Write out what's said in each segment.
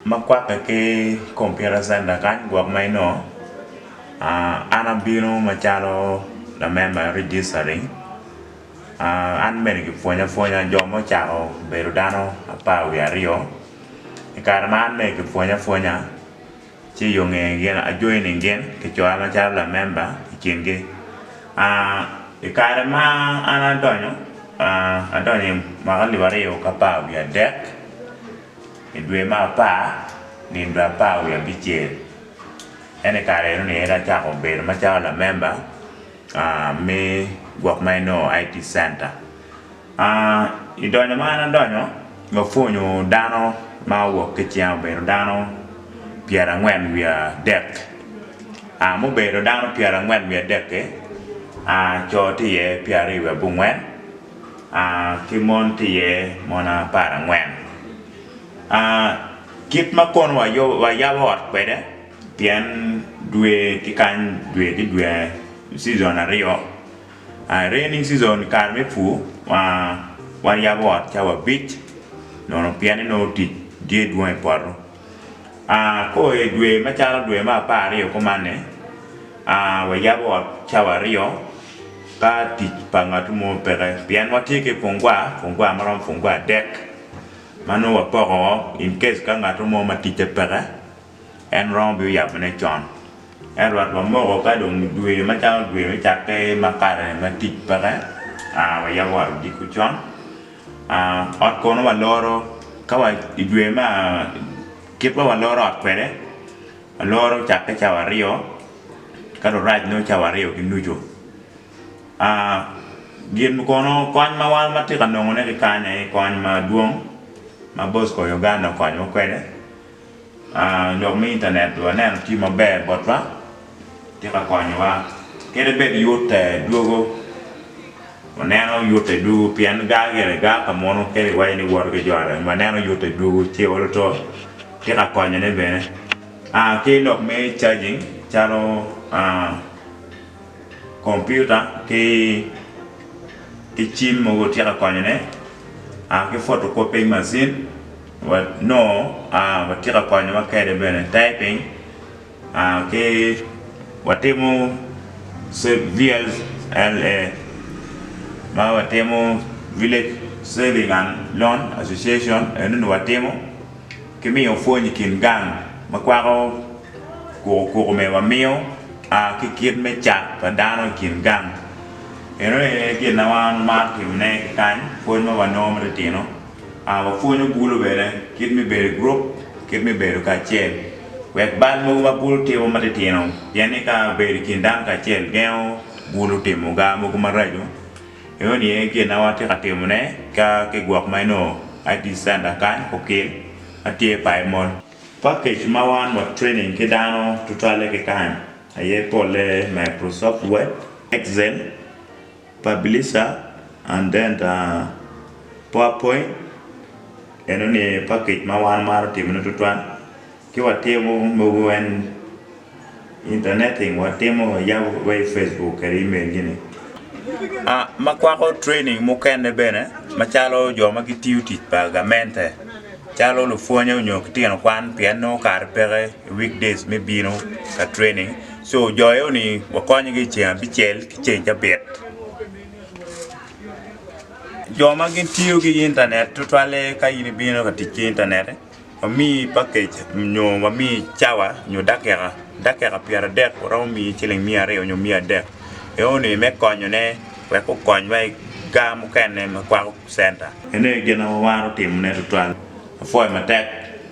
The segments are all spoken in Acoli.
ma kwakke ki computer center kany gwok ma inongo an abino macalo lamember me registering an bene kipwonya pwonya jo ma ocako bedo dano apar wiye aryo i kare ma an bene kipwonya pwonya ci i yonge gin ajoining gin kicoya macalo lamember i kingi i kare ma an adonyo adonyo mwaka alip aryo ki apar wiye adek I dwe ma apar, nino dwe apar wiye abicel, en i kare eno ni en acako bedo macalo lamemba me gwok ma inongo ni IT center. I donyo ma an adonyo, wapwonyo dano ma owok ki cen obedo dano pyerangwen wiye adek, mubedo dano pyerangwen wiye adek-ki, co tye iye pyeraryo wiye abongwen, a ki mon tye iye mon apar angwen a kit ma kono wayabo ot kwede pien dwe ki kany dwe ki dwe cizon aryo rainy cizon kare me pur wayabo ot cawa abic pien inongo tic tye dwong i poto. Aa, kor i dwe macalo dwe me apar aryo kumanni, aa, wayabo ot cawa aryo ka tic pa ngatu mo peke pien watye ki pungwa, pungwa ma romo pungwa adek ma nongo wapoko woko in case ka ngatu mo ma ticce peke en romo bino yabone con. Ento wat wamoko ka dong dwe macalo dwe me cakke ma kare ma tic peke, aa, wayabo ot odiko con. Ot kono waloro ka wa i dwe me kit ma waloro ot kwede aloro cakke cawa aryo ka rurac dong cawa aryo ki nucu gin kono kony ma wan watye ka nongone ki kany aye kony madwong ma Bosco Uganda okonyowa kwede. Lok me intanet waneno tye maber botwa, tye ka konyowa kadi bed yute dwogo waneno yute dwogo pien gar gire gar ka munu kadi iwaco ni iwoto ki jo aryo waneno yute dwogo ci iolo two tye ka konyone bene ki lok me cajing calo kompiuta ki cim mogo tye ka konyone ki photo copying macin. Wa nongo wa tika konyo wa kede bene typing ki wa timo VLLA ma wa timo village saving and loan association eno ni wa timo ki miyo pwony i kin gang ma kwako kuku kuku me wa miyo ki kit me cat pa dano i kin gang eno aye gin ma wan wa maro timo ne ki kany pwony ma wa nongo ma ti tino Wapwonyo bulu bene kit me bedo i gurup, kit me bedo kacel wek bal mogo ma bulu timo matitino, pien ni ka bedo i kin dano kacel gengo bulu timo gar mogo maraco. Eno ni aye gin ma watye ka timone ka ki gwok ma inongo ID center kany okil ma tye payo moni. Package ma wan wa training ki dano tutwalle ki kany aye polle Microsoft Word, Excel. Publisher and then the powerpoint eno ni package ma wan wamaro timo ne tutwal ki watimo mogo en interneting watimo wayabo wa i Facebook kede email gi ni ma kwako training mukene bene macalo jo ma gitiyo tic pa gamente calo lupwonye nyo ki tino kwan pien nongo kare peke. i week days me bino ka training so jo eo ni wakonyo gi ceng abicel ki ceng cabit jo ma gin tiyo gi internet tutwalle ka in ibino ka tic ki internet wami package nyo wami cawa nyo dakika dakika pyera adek waromo mi ciling miya aryo nyo miya adek eo ni me konyo ne wek okony wa i gar mukene ma kwako center ene gin ma wamaro timone tutwal apwoyo matek.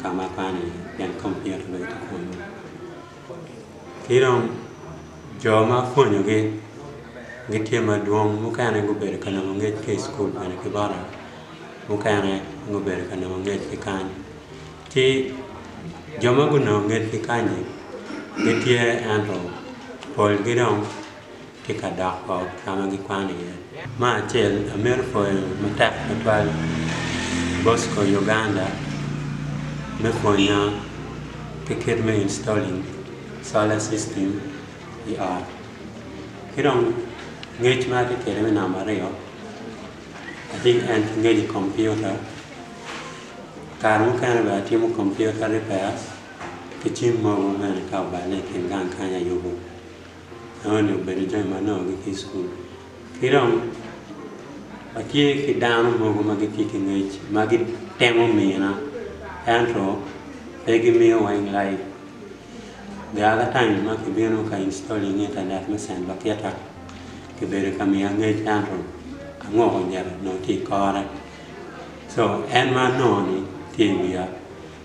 ka ma kwano iye pien kompiuta pe gitye kwonyo ki dong jo ma pwonyogi gitye madwong mukene gubedo ka nongo ngec ki i cukul bene ki bota mukene gubedo ka nongo ngec ki kany ci jo ma gunongo ngec ki kany-nyi gitye ento polgi dong ki ka dok ot ka ma gikwano iye. Me acel, amito pwoyo matek tutwal Bosco Uganda me pwonya ki kit me installing solar system i ot. Ki dong ngec ma atye kwede me namba aryo, atye ki en ki ngec i kompiuta, kare mukene bene atimo kompiuta repairs ki cim mogo bene ka oballe i kin gang kany ayubo. Enoni obedo jami ma anongogi ki i cukul. Ki dong watye ki dano mogo ma gitye ki ngec ma gitemo mina ento pe gimiyo weng laib. Gar ka taim ma kibino ka installing intanet me cent lakita, kibedo ka miya ngec ento angoko njare onongo tye i kore. Co, en ma anongo-ni tye i wiya.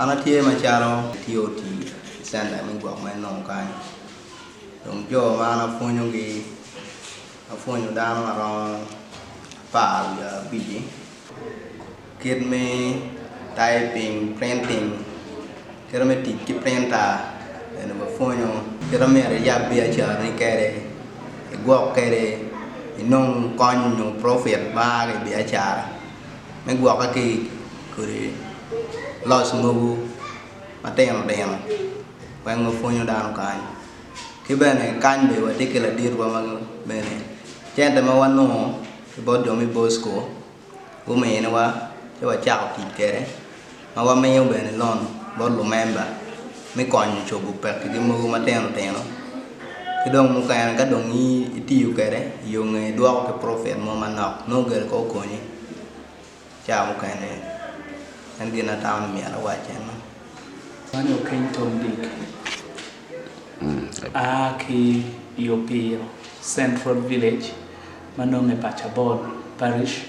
An atye macalo atye otii i center me gwok ma enongo kany dong jo ma an apwonyogi apwonyo dano maromo apar wiye abic-ci kit me typing, printing kite me tic ki printer bene wapwonyo kit ma myero iyab biacarani kwede igwok kwede inong kony nyo profit ma aa ki i biacara. me gwokke ki i kodi loc mogo matino tino wek ma pwonyo dano kany ki bene kany bene watye ki laditwa ma bene cente ma wanongo ki bot jo me bosco guminiwa ci wacako tic kwede. ma wamiyo bene lon bot lumemba me konyo cobo pekigi mogo matino tino ki dong mukene ka dong itiyo kwede i yo nge idwoko ki profit mo manok nongo gire kong okonyi caa mukene en gin ma atamo ni myero awac en no. Man Okeny Tom Dick a ki i Opiyo Central Village ma nongo i Pacabol Parish.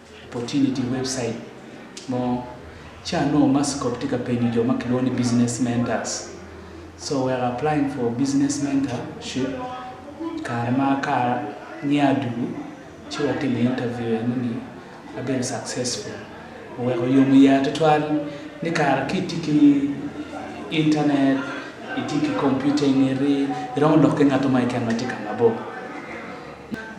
Opportunity website mo ca nongo Masscorp tye ka penyo jo ma kilwongo ni Business Mentors. So wek applying for Business Mentorship, kare ma aka niye adugu ci watimo interview eno ni abedo successful. Oweko oyomo iya tutwal ni kare ka itye ki internet, itye ki computer ingeti, iromo lok ki ngat mo keken ma tye ka ngabo.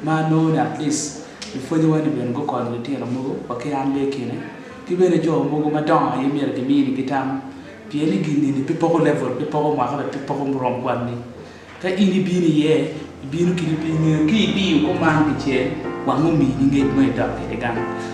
ma anongo ni at least lupwonyewa ni bene gukonyo litino mogo wa ki an bene i kine ki bene jo mogo madongo aye myero kimini gi tam pien ni gin eni pe poko level pe poko mwaka bene pe poko murom kwanni ka in ibino iye ibino kit ingeyo ka idiyo kuman kicel wango omini ngec mo idok kwede gang.